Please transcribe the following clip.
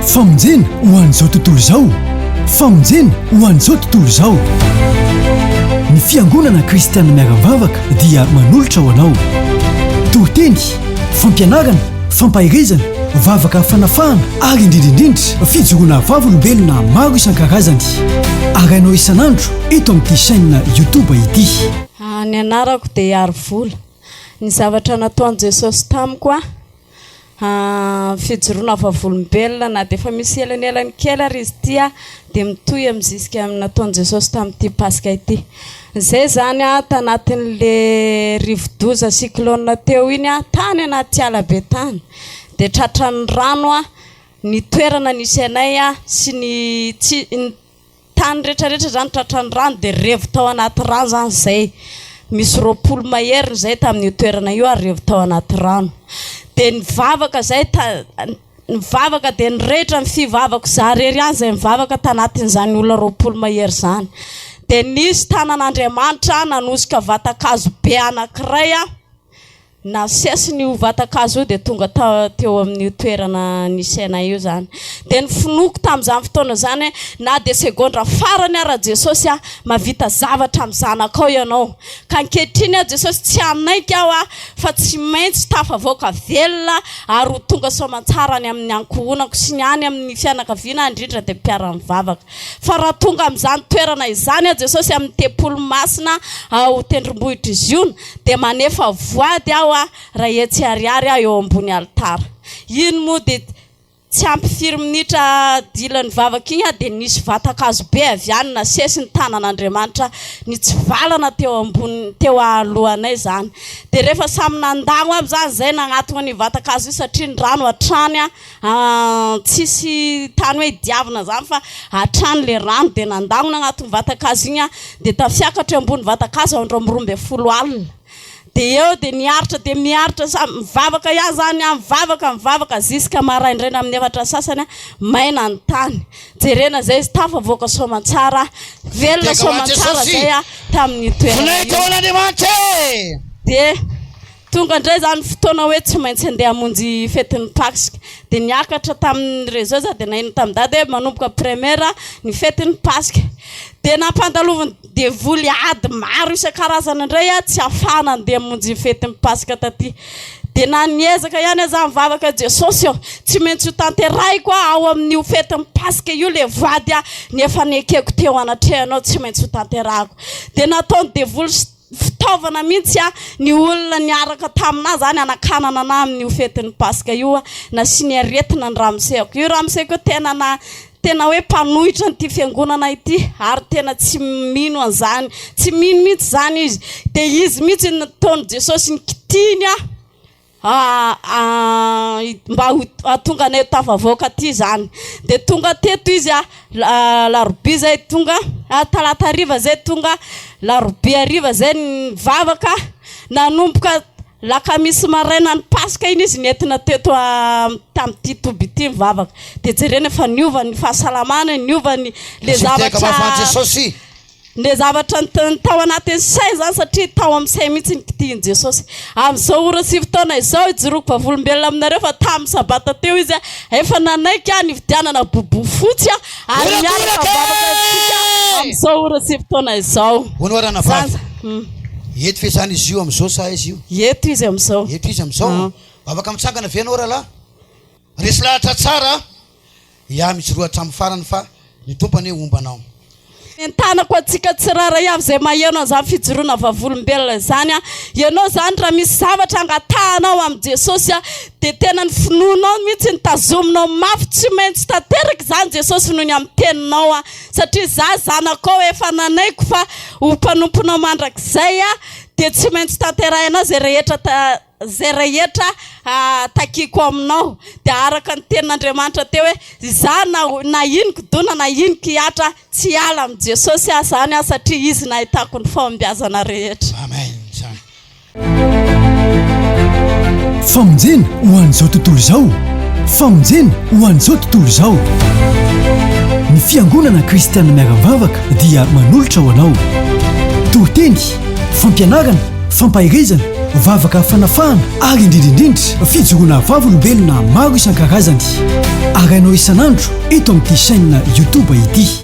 Famonjena ho an'izao tontolo izao Famonjena ho an'izao tontolo izao Ny fiangonana kristianina miara-mivavaka dia manolotra ho anao toriteny fampianarana fampaherezana vavaka fanafahana ary indrindra indrindra fijoroana vavolombelona maro isan-karazany arahinao isan'andro eto amin'ity chaîne YouTube ity Ny anarako dia Harivola. Ny zavatra nataon'i Jesosy tamiko aho Fijoroana vavolombelona, na dia efa misy elanelany kely ary izy ity, dia mitohy amin'ny zisika ny nataon'i Jesosy tamin'ity Paska ity. Izay izany tanatin'ilay rivo-doza, cyclone, teo iny, tany anaty ala be tany, dia tratran'ny rano ny toerana nisy anay sy ny tsy Tany retraretra izany tratran'ny rano dia revo tao anaty rano izany izay misy roapolo maheriny izay tamin'io toerana io ary revo tao anaty rano dia nivavaka izay nivavaka dia nirehitra ny fivavako izaho irery ihany izay nivavaka tanatin'izany olona roapolo mahery izany dia nisy tanan'Andriamanitra nanosika vatan-kazo be anankiray aho Nasesiny io vatan-kazo io dia tonga teo amin'io toerana nisy anay io izany. Dia nofinoiko tamin'izany fotoana izany hoe na dia segondra farany ara Jesosy a, mahavita zavatra amin'ny zanakao ianao. Ka ankehitriny aho Jesosy tsy hanaiky aho a, fa tsy maintsy tafavoaka velona ary ho tonga soamantsara any amin'ny ankohonako sy ny any amin'ny fianakaviana indrindra dia mpiara-mivavaka. Fa raha tonga amin'izany toerana izany aho, Jesosy, amin'ny tempoly masina ao tendrombohitr'i Ziona, dia manefa voady aho aho, iray hetsy ariary aho eo ambony alitara. Iny moa dia tsy ampy firy minitra dila nivavaka iny aho, dia nisy vatan-kazo be avy any nasesy ny tanan'Andriamanitra nitsivalana teo ambony, teo ahalohanay izany. Dia rehefa samy nandagno aby izany izay nagnatona an'io vatan-kazo io, satria ny rano hatrany Tsisy tany hoe diavina zany fa hatrany le rano de nandamina agnatin'ny vatan-kazo igny aho de tafiakatra eo ambony vatan-kazo andro amin'ny roa ambin'ny folo alina de eo de niaritra de miaritra sa- mivavaka ihany zany aho mivavaka mivavaka ziska maraindraina amin'ny efatra sasany maina ny tany jerena zay izy tafavoaka soamantsara aho velona soamantsara zay aho tamin'io toerana io Voninahitra ho an'Andriamanitra e! de Tonga indray izany fotoana hoe tsy maintsy handeha hamonjy fetin'ny Paska. Dia niakatra tamin'ny réseau za dia naheno tamin'i Dada hoe manomboka première ny fetin'ny Paska. Dia nampandalovin'ny devoly ady maro isan-karazany indray aho tsy hahafahana handeha hamonjy ny fetin'ny Paska taty. Dia na niezaka ihany aza nivavaka Jesosy ô, tsy maintsy ho tanterahiko ao amin'io fetin'ny Paska io ilay voady ny efa nekeko teo anatrehanao tsy maintsy ho tanterahiko. Dia nataon'ny devoly sy. Fitaovana mihintsy ny olona niaraka taminà zany hanakanana anà amin'io fetin'ny Paska io a! Nasiany aretina ny ramoseko. Io ramoseko io tena na tena hoe mpanohitra an'ity fiangonana ity ary tena tsy mino an'izany, tsy mino mihintsy izany izy. Dia izy mihintsy no nataon'i Jesosy nikitihiny aho. mba ho tonga anay tafavoaka aty zany de tonga teto izy a alarobia zay tonga talata hariva zay tonga alarobia hariva zay nivavaka nanomboka lakamisy maraina ny paska iny izy nentina teto tamty toby ity nivavaka de jerena efa niova ny fahasalamany niova ny le zavatra Ilay zavatra niteny tao anatin'ny saina izany, satria tao amin'ny sainy mihitsy ny kitihin'i Jesosy. Amin'izao ora sy fotoana izao, ijoroako vavolombelona aminareo fa tamin'ny Sabata teo Izy efa nanaiky nividianana bobofotsy ary miaraka mivavaka amintsika amin'izao ora sy fotoana izao. Honoharana Vavy. Zany. Eto ve izany izy io amin'izao sa aiza io? Eto izy amin'izao. Eto izy amin'izao. Afaka mitsangana ve ianao rahalahy? Resy lahatra tsara iah mijoroa hatramin'ny farany fa ny Tompo anie homba anao. Entanako antsika tsirairay avy izay maheno an'izany fijoroana vavolombelona izany, ianao izany raha misy zavatra angatahanao amin'i Jesosy dia tena ny finoanao mihitsy no tazominao mafy, tsy maintsy tanteraka izany Jesosy noho ny amin'ny teninao satria izaho zanakao efa nanaiky fa ho mpanomponao mandrakizay dia tsy maintsy tanterahinao izay rehetra Izay rehetra takiako aminao dia araka ny tenin'Andriamanitra teo hoe izaho na na iny kidona na iny kihatra tsy hiala amin'i Jesosy aho izany aho satria Izy no ahitako ny fahombiazana rehetra. Amen izany. Famonjena ho an'izao tontolo izao Famonjena ho an'izao tontolo izao Ny Fiangonana Kristianina Miara-mivavaka dia manolotra ho anao toriteny Fampianarana, fampaherezana, vavaka fanafahana ary indrindra indrindra fijoroana vavolombelona maro isan-karazany. Arahinao isan'andro eto amin'ity chaîne YouTube ity.